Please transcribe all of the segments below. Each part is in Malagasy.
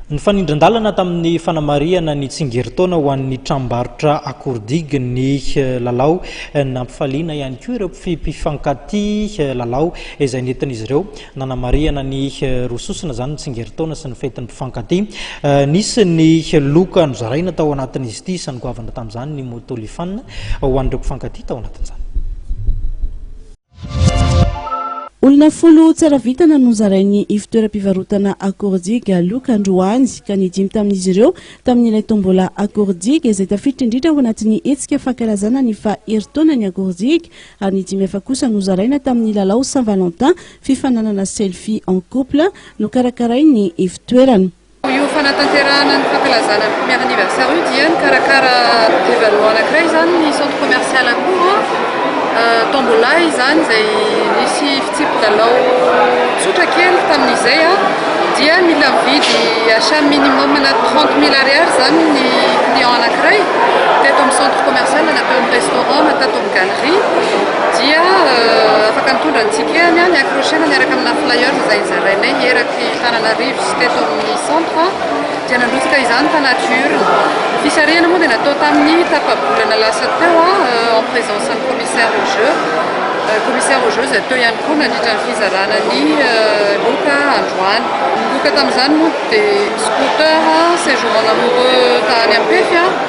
Nifanindran-dalana tamin'ny fanamarihana ny tsingerintaona ho an'ny tranombarotra Akordigy ny eh, lalao. Eh, nampifaliana ihany koa ireo mpifankatia eh, lalao izay nentin'izy ireo nanamarihana ny roa sosona izany ny tsingerintaona sy ny fetin'ny mpifankatia. Nisy ny loka nozaraina tao anatin'izy ity, isan'ny goavana tamin'izany ny moto lifana ho an'ireo mpifankatia tao anatin'izany. Olona folo tsara vintana no zarain'ny ivontoeram-pivarotana Akordiga Aloka androany ka ny dimy tamin'izy ireo tamin'ilay tombola Akordiga izay tafiditra indrindra ao anatin'ny hetsika fankalazana ny faha herintaonan'ny Akordiga ary ny dimy hafa kosa nozaraina tamin'ny lalao Saint Valentin fifaninanana selfie en couple nokarakarain'ny ivontoerana. Io fanatanterahana ny fankalazana ny premier anniversaire io dia nikarakara événement anankiray izany ny centre commercial Akoho tombola izany izay nisy fitsipi-dalao tsotra kely tamin'izay dia mila mividy achat minimum na 30 mille ariary izany ny client anankiray teto amin'ny centre commercial na teo amin'ny restaurant na tato amin'ny galerie dia afaka mitondra ny ticket-ny accrocher-na miaraka amina flyer izay zarainay eraka Ny tanana Reeves teto amin'ny centre dia nandrotsaka izany tanaty urne. Ny fisarihana moa dia natao tamin'ny tapa-bolana lasa teo en présence ny commissaire aux jeux. Commissaire aux jeux izay teo ihany koa nandritra ny fizarana ny loka androany. Ny loka tamin'izany moa dia scooter, séjour en amoureux tany Ampefy.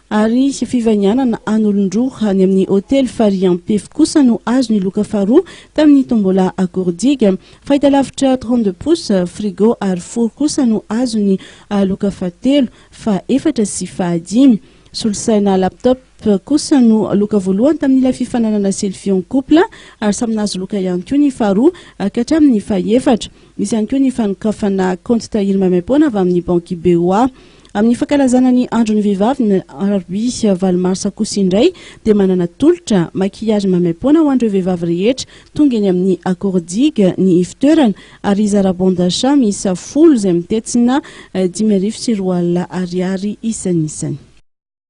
ary fivainianana an'olon-droa any amin'ny hotely Farian Pefy kosa no azo ny loka faharoa tamin'ny tombola Akoridiga. Fahitalavitra trente deux pouces, frigo ary four kosa no azo ny loka fahatelo, fahefatra sy fahadimy. Solosaina laptop kosa no loka voalohany tamin'ilay fifaninanana selfie en couple ary samy nahazo loka ihany koa ny faharoa ka hatramin'ny fahefatra. Misy ihany koa ny fanokafana kaonty tahiry maimaim-poana avy amin'ny banky BOA. Amin'ny fankalazana ny andron'ny vehivavy ny alarobia valo marsa kosa indray dia manana tolotra maquillage maimaimpoana ho an'ireo vehivavy rehetra tonga eny amin'ny Accor Digue ny ivotoerana ary hizara bon d'achat miisa folo izay mitetsina dimy arivo sy roa alina ariary isanisany.